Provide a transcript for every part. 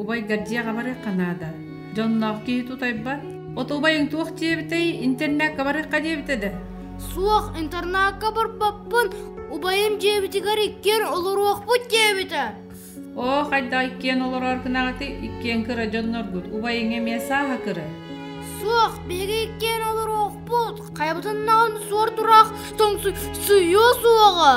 Убайгар дьиэҕэ барыахха наада. Дьонноох киһи тутайбат. От убайыҥ туох диэбитэй, интернакка барыахха диэбитэ да? Суох, интернакка барбаппын. Убайым дьиэбитигэр иккиэн олоруохпут диэбитэ. Оо, хайда иккиэн олорор гынаҕыты, иккиэн кыра дьонноргут, убайыҥ эмиэ сааһа кыра. Суох, биһиги иккиэн олоруохпут. Хайабытыннаҕын суор тураах тоҥсуйуо суоҕа.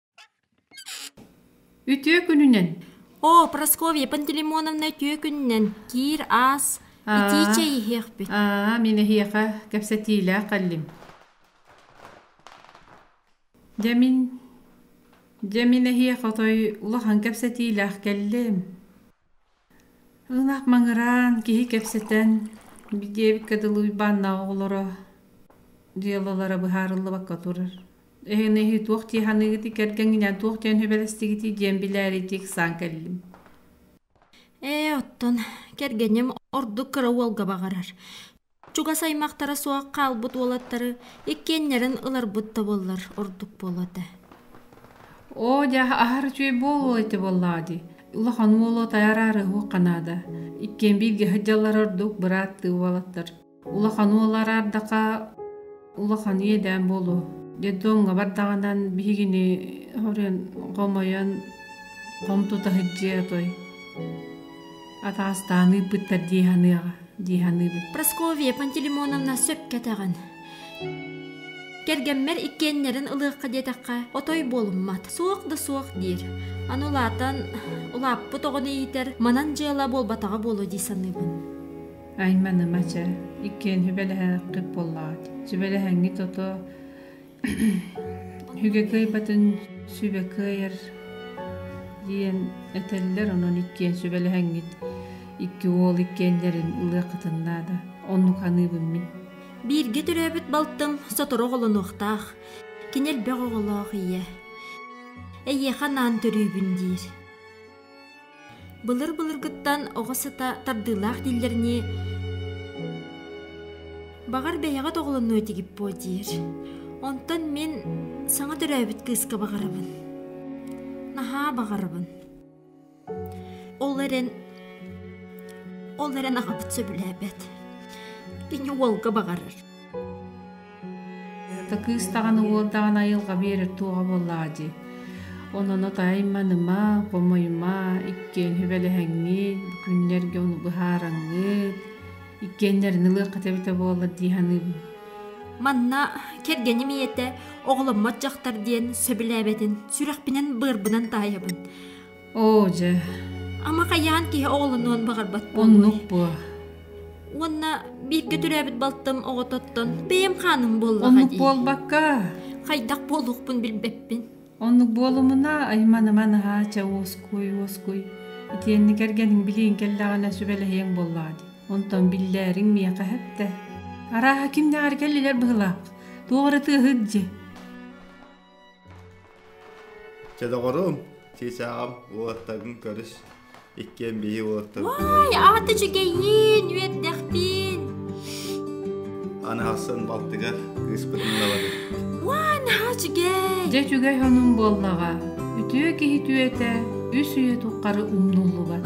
Үтүө күнүнэн! Оо, Прасковья Пантелеймоновна үтүө күнүнэн! Киир, аас, итии чэй иһиэхпит. Аа, мин эһиэхэ кэпсэтиилээх кэллим. Дьэ мин дьэ мин эһиэхэ отой улахан кэпсэтиилээх кэллим Ынах маҥыраан киһи кэпсэтэн диэбиккэ дылы Уйбааннаах оҕолоро дьыалалара быһаарыллыбакка турар. Эһиги эһи туох дии саныыгытый кэргэҥҥинээн туох диэн сүбэлэстигитий диэн билээриттии ыксаан кэллим ээ оттон кэргэним ордук кыра уолга баҕарар чугас аймахтара суох хаалбыт уолаттары иккиэннэрин ыларбыт да буоллар ордук буолуо этэ оо дьэ аһар үчүгэй буолуо ити буоллаҕа дии улахан уолу тайараары уһуохха наада иккиэн бииргэ сылдьаллар ордук бырааттыы уолаттар улахан уол араардахха улахан иэдээн буолуо детдомҥа бардаҕынан биһигини хоруйан хомойон хом тута сылдьыа той атаастаан ыыппыттар дии саныаҕа дии саныыбыт Прасковья Пантелеймоновна сөп кэтэҕин кэргэммэр иккиэннэрин ылыахха диэтэххэ отой буолуммат суох да суох диир аны улаатан улааппыт оҕону иитэр манан дьыала буолбатаҕа буолуо дии саныыбын айманыма чэ иккиэн сүбэлэһэххит буоллаҕа сүбэлэһэҥҥит ото үгэ кыайбатын сүбэ кыайар диэн этэллэр онон иккиэн сүбэлэһэҥҥит икки уол иккиэннэрин ылыаххытын наада оннук ханыыбын мин бииргэ төрөөбүт балтым сотору оҕолонуохтаах кини элбэх оҕолоох ийэ эйиэхэ анаан төрүүбүн диир Былыр-былыргыттан оҕо сыта тардыылаах дииллэринии, баҕар бэйэҕит оҕолонуо этигит буо диир. Онтон мин саҥа төрөөбүт кыыска баҕарабын. Наһаа баҕарабын. Ол эрэн ол эрэн аҕабыт сөбүлээбэт. Кини уолга баҕарар. та кыыс даҕаны уол даҕаны айылҕа биэрэр туоҕа буоллаҕа дии ононо тайма-ныма хомойума иккиэн сүбэлэһэҥҥит бу күннэргэ ону быһаараҥҥыт иккиэннэрин ылыаххыта эбитэ буоллар дии саныыбын манна кэргэним ийэтэ оҕоломмот дьахтар диэн сөбүлээбэтин сүрэхпинэн быарбынан таайабын Оо, дьэ. Ама хайаан киһи оҕолонуон баҕарбат буолуой? Оннук буо. Уонна бииргэ төрөөбүт балтым оҕототтон бэйэм хааным буоллаҕа Оннук дии. буолбакка. Хайдах буолуохпун билбэппин. Оннук буолумуна айманама наһаа чэ уоскуй уоскуй. Итиэннэ кэргэниҥ билиин кэллэҕинэ сүбэлэһиэҥ буоллаҕа дии. Онтон биллээриҥ миэхэ эһэптэ. Арааһа ким дэҕэргэл илэр быһылаах. Туох эрэ тыаһыт дьи. Чэ доҕорум, Сиисаҕам, уолаттаргын көрүс. Иккиэн биһи уолаттаргын Вай, аата үчүгэйин, үөрдэхпин. Аны ахсын балтыгар ыыспытын ылабын. Вай, наһаа үчүгэй. Дьэ үчүгэй хонум буоллаҕа. Үтүө киһи түөтэ, үс үйэ туххары умнуллубат.